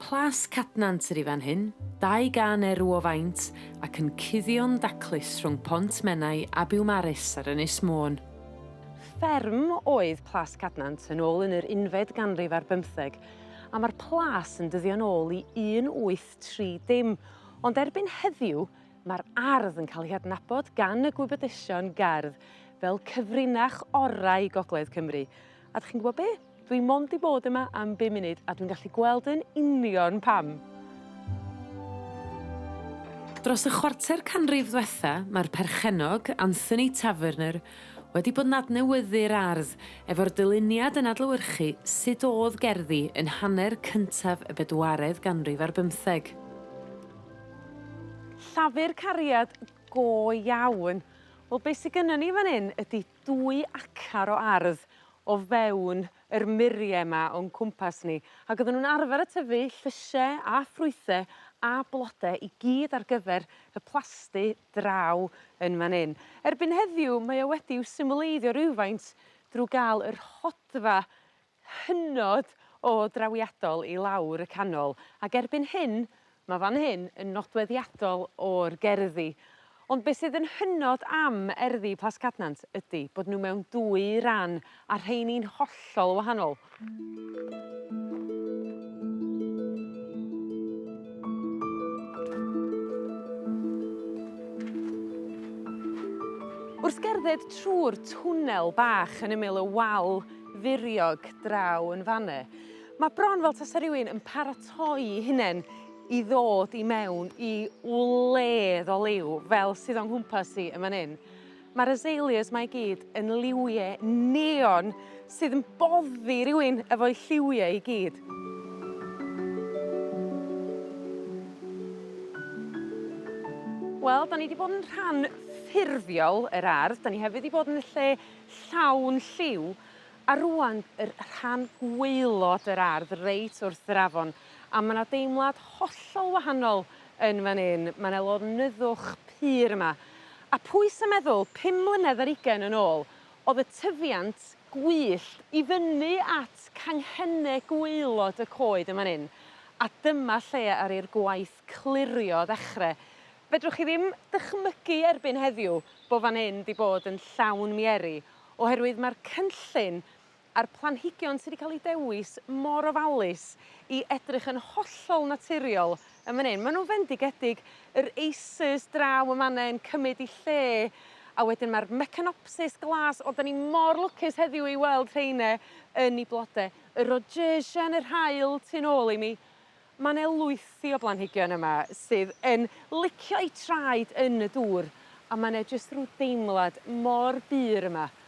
Plas Cadnant yr i fan hyn, dau gan erw o faint, ac yn cuddio'n daclus rhwng Pont Menai a Biwmaris ar Ynys Môn. Fferm oedd Plas Cadnant yn ôl yn yr unfed ganrif ar bymtheg, a mae'r plas yn dyddio'n ôl i 1830, ond erbyn heddiw mae'r ardd yn cael ei hadnabod gan y gwybodesion gerdd fel cyfrinach orau Gogledd Cymru, A 'dych chi'n gwbo be'? Dwi mond 'di bod yma am bum munud a dwi'n gallu gweld yn union pam. Dros y chwarter canrif ddwetha ma'r perchennog Anthony Taverner wedi bod yn adnewyddu'r ardd efo'r dyluniad yn adlewyrchu sud o'dd gerddi yn hanner cyntaf y bedwaredd ganrif ar bymtheg. Llafur cariad go iawn. Wel be' sy gynnon ni fan 'yn ydi dwy acar o ardd o fewn yr murie 'ma o'n cwmpas ni ag odden nw'n arfer y tyfu llyshe a ffrwythe a blode i gyd ar gyfer y plasty draw yn fan 'yn. Erbyn heddiw mae o wedi i'w symleiddio rywfaint drw ga'l y rhodfa hynod o drawiadol i lawr y canol ac erbyn hyn ma' fan hyn yn nodweddiadol o'r gerddi ond be' sydd yn hynod am erddi Plas Cadnant ydi bod n'w mewn dwy ran a rheini'n hollol wahanol. Wrth gerdded trw'r twnnel bach yn ymyl y wal furiog draw yn fan 'ne. Ma' bron fel tasa rywun yn paratoi'i hunen i ddod i mewn i wledd o liw fel sydd o'n nghwmpas i yn fan 'yn. Ma'r azaleas 'ma i gyd yn liwie neon sydd yn boddi rywun efo'u lliwie i gyd. Wel 'dan ni 'di bod yn rhan ffurfiol yr ardd 'dan ni hefyd 'di bod yn y lle llawn lliw a rŵan yr rhan gwaelod yr ardd reit wrth yr afon a ma' 'na deimlad hollol wahanol yn fan 'yn ma' 'ne lonyddwch pur yma a pwy sa meddwl pum mlynedd ar ugen yn ôl o'dd y tyfiant gwyllt i fyny at canghenne gwaelod y coed yn fan 'yn a dyma lle aru 'r gwaith clirio ddechre. Fedrwch chi ddim dychmygu erbyn heddiw bo' fan 'yn 'di bod yn llawn mieri oherwydd ma'r cynllun a'r planhigion sy 'di ca'l 'u dewis mor ofalus i edrych yn hollol naturiol yn fan 'yn. Ma' nw'n fendigedig yr acers draw yn fan 'na yn cymyd 'u lle a wedyn ma'r mecanopsis glas o 'dan ni mor lwcus heddiw i weld rheine yn 'u blode. Y rhodgesia yn yr haul tu nôl i mi. Ma' 'ne lwythi o blanhigion yma sydd yn licio'u traed yn y dŵr a ma' 'ne jyst rw deimlad mor bur yma